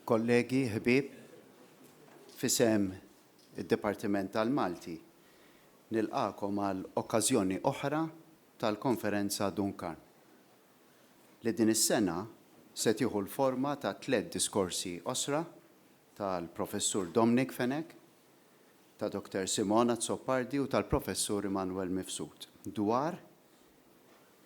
Kollegi, ħbieb, fisem id-Dipartiment tal-Malti nilqakom għal okkażjoni oħra tal-Konferenza Duncan, li din is-sena se tieħu l-forma ta' tliet diskorsi qosra tal-Professur Dominic Fenech, ta' Dr Simon Azzopardi u tal-Professur Immanuel Mifsud dwar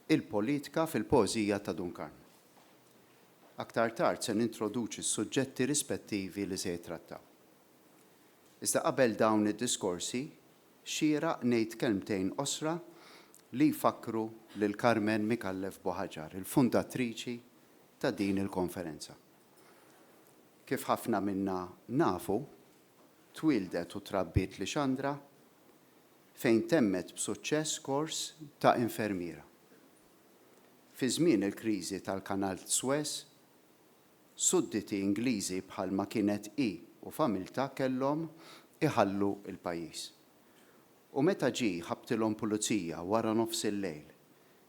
Il-politika fil-poeżija ta' Dun Karm. Aktar tard se nintroduċi s-suġġetti rispettivi li se jittrattaw. Iżda qabel dawn id-diskorsi, xieraq ngħid kelmtejn qosra li jfakkru lil Carmen Micallef Buhaġar, il-fundatriċi ta' din il-konferenza. Kif ħafna minna nafu, Twieldet u trabbiet Lixandra fejn temmet b'suċċess kors ta' infermiera. Fi żmien il-kriżi tal-Kanal t'Suez, sudditi Ingliżi bħal ma kienet hi u familtha kellhom iħallu l-pajjiż. U meta ġie ħabbtilhom pulizija wara nofs il-lejl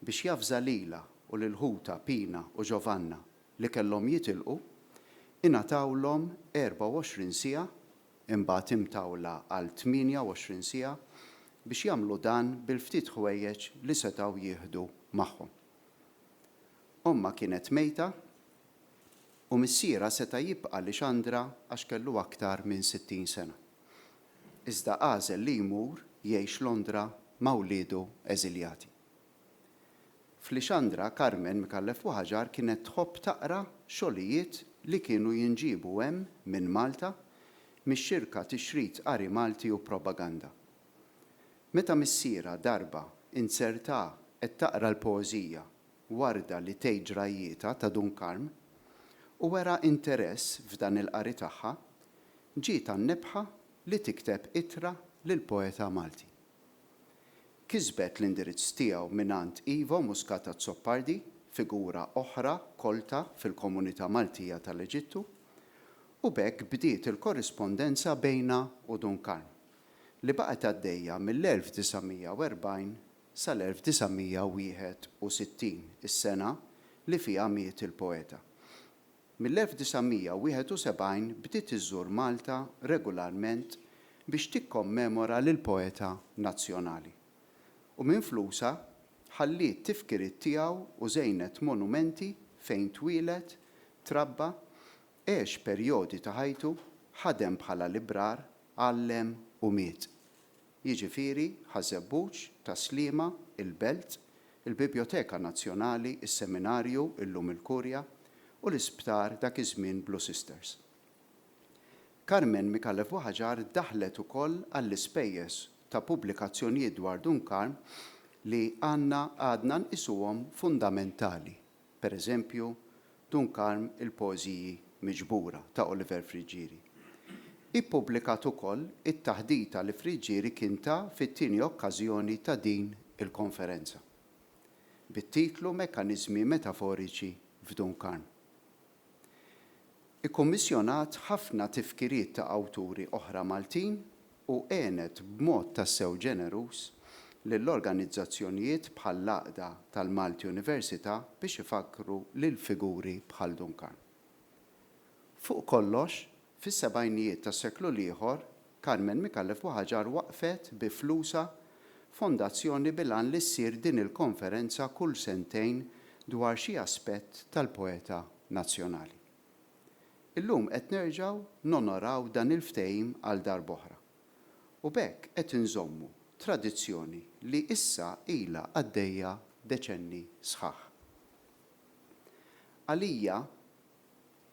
biex javża lilha u lil ħutha Pina u Giovanna li kellhom jitilqu, ingħatawlhom 24 siegħa, imbagħad imtawla għal 28 siegħa, biex jagħmlu dan bil-ftit ħwejjeġ li setgħu jieħdu magħhom. Ommha kienet mejta u missierha seta' jibqa' Lixandra għax kellu aktar minn 60 sena. Iżda għażel li jmur jgħix Londra ma' wliedu eżiljati. F'Lixandra, Carmen Micallef Waħġar kienet tħobb taqra xogħlijiet li kienu jinġiebu hemm minn Malta mix-xirka Tixrid Qari Malti u Propaganda. Meta missierha darba inzertah qed taqra l-poeżija Warda li tgħid ġrajjietha ta' Dun Karm u wera interess f'dan il-qari tagħha, ġietha n-nebħa li tikteb ittra lill-poeta Malti. Kisbet l-indirizz tiegħu mingħand Ivo Muscat Azzopardi, figura oħra kolta fil-komunità Maltija tal-Eġittu, u b'hekk bdiet il-korrispondenza bejnha u Dun Karm, li baqgħet għaddejja mill-1940 sal-1961, is-sena li fiha miet il-poeta. Mill-1971 bdiet iżżur Malta regolarment biex tikkommemora lill-poeta nazzjonali, u minn flusha ħalliet tifkiriet tiegħu u żejnet monumenti fejn twieled, trabba, għex perjodi ta' ħajtu, ħadem bħala librar, għallem u miet. jiġifieri Ħaż-Żebbuġ, Tas-Sliema, il-Belt, il-Bibjoteka Nazzjonali, is-Seminarju, illum il-Kurja, u l-Isptar, dak iż-żmien Blue Sisters. Carmen Micallef Waħġar daħlet ukoll għall-ispejjeż ta' pubblikazzjonijiet dwar Dun Karm li għandna għadna nqisuhom fundamentali. per eżempju, Dun Karm il-poeżiji miġbura ta' Oliver Friggieri. Ippubblikat ukoll it-taħdita li Friggieri kien ta fit-tieni okkażjoni ta' din il-konferenza, bit-titlu Mekkaniżmi metaforiċi f'Dun Karm. Ikkummissjonat ħafna tifkiriet ta' awturi oħra Maltin u għenet b'mod tassew ġeneruż lil organizzazzjonijiet bħall-Għaqda tal-Malti Università biex ifakkru lil figuri bħal Duncan. Fuq kollox, Fis-sebgħinijiet tas-seklu l-ieħor, Carmen Micallef Buhagiar waqqfet bi flusha fondazzjoni bil-għan li ssir din il-konferenza kull sentejn dwar xi aspett tal-poeta nazzjonali. Illum qed nerġgħu nonoraw dan il-ftehim għal darb'oħra u b'hekk qed inżommu tradizzjoni li issa ilha għaddejja deċenni sħaħ. Għalija,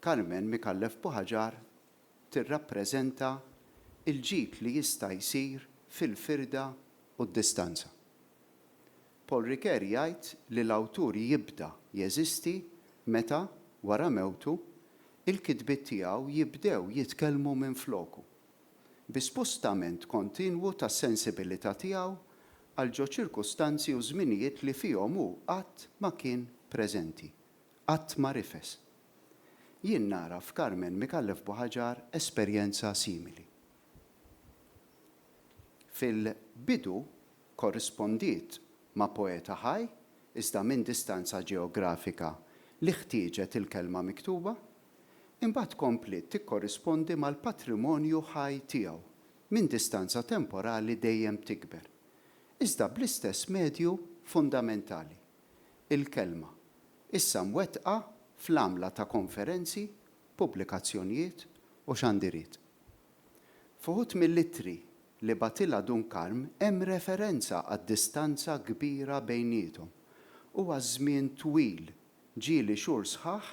Carmen Micallef Buhaġar tirrappreżenta l-ġid li jista' jsir fil-firda u d-distanza. Paul Ricoeur jgħid li l-awtur jibda jeżisti meta, wara mewtu, il-kitbiet tiegħu jibdew jitkellmu minfloku, bi spustament kontinwu tas-sensibilità tiegħu għal ġo ċirkustanzi u żminijiet li fihom hu qatt ma kien preżenti. Qatt ma rifes. Jien nara f'Carmen Micallef Buhaġar esperjenza simili. Fil-bidu korrispondiet ma' poeta ħaj iżda minn distanza ġeografika li ħtieġet il-kelma miktuba, imbagħad kompliet tikkorrispondi mal-patrimonju ħaj tiegħu minn distanza temporali dejjem tikber, iżda bl-istess medju fundamentali. il-kelma, issa mwettqa fl-għamla ta' konferenzi, pubblikazzjonjiet u xandiriet. F'uħud mill-ittri li bagħtilha Dun Karm hemm referenza għad-distanza kbira bejniethom u għaż-żmien twil, ġieli xhur sħaħ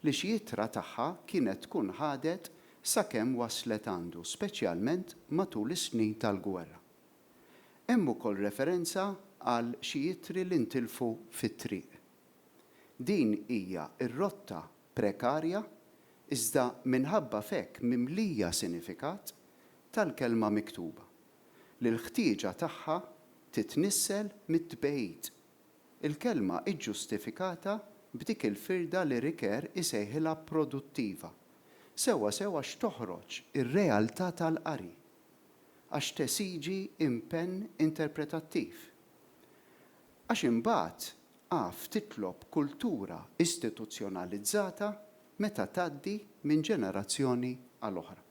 li xi ittra tagħha kienet tkun ħadet sakemm waslet għandu, speċjalment matul is-snin tal-gwerra. Hemm ukoll referenza għal xi ittri li ntilfu fit-triq. Din hija r-rotta prekarja, iżda minħabba f'hekk mimlija sinifikat, tal-kelma miktuba, li l-ħtieġa tagħha titnissel mit-tbeid. Il-kelma hi ġġustifikata b'dik il-firda li Ricoeur isejħilha produttiva, sewwa sewwa x'toħroġ ir-realtà tal-qari. għax tesiġi impenn interpretattiv. Għax imbagħad af titlob kultura istituzzjonalizzata meta tgħaddi minn ġenerazzjoni għal oħra.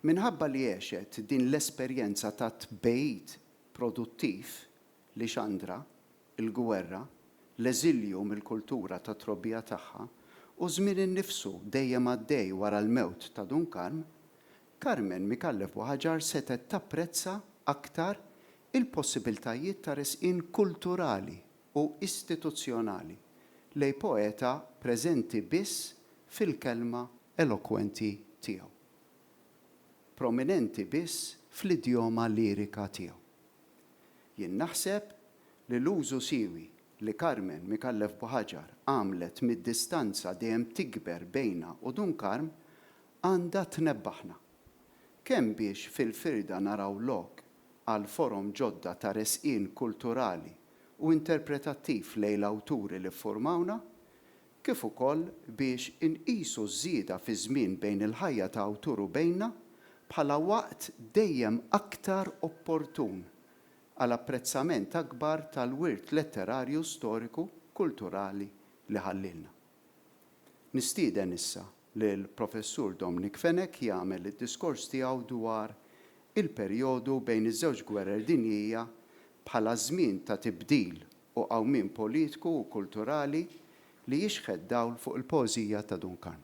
Minħabba li għexet din l-esperjenza tat-tbegħid produttiv, Lixandra, il-gwerra, l-eżilju mill-kultura tat-trobbija tagħha, u ż-żmien innifsu dejjem għaddej wara l-mewt ta' Dun Karm, Carmen Micallef Buhagiar setgħet tapprezza aktar il-possibiltajiet ta' resqien kulturali u istituzzjonali lejn poeta preżenti biss fil-kelma elokwenti tiegħu, prominenti biss fl-idjoma lirika tiegħu. Jien naħseb li l-użu siewi li Carmen Micallef Buhaġar għamlet mid-distanza dejjem tikber bejna u Dun Karm għandha tnebbaħna. Kemm biex fil-firda naraw lok għal forom ġodda ta' resqien kulturali u interpretattiv lejn l-awturi li ffurmawna, kif ukoll biex inqisu ż-żieda fiż-żmien bejn il-ħajja ta' awtur u bejna bħala waqt dejjem aktar opportun għal apprezzament akbar tal-wirt letterarju storiku kulturali li ħallielna. Nistieden issa lill-Professur Dominic Fenech jagħmel id-diskors tiegħu dwar il-perjodu bejn iż-żewġ gwerer dinjija bħala żmien ta' tibdil u qawmien politiku u kulturali li jixħet dawl fuq il-poeżija ta' Dun Karm.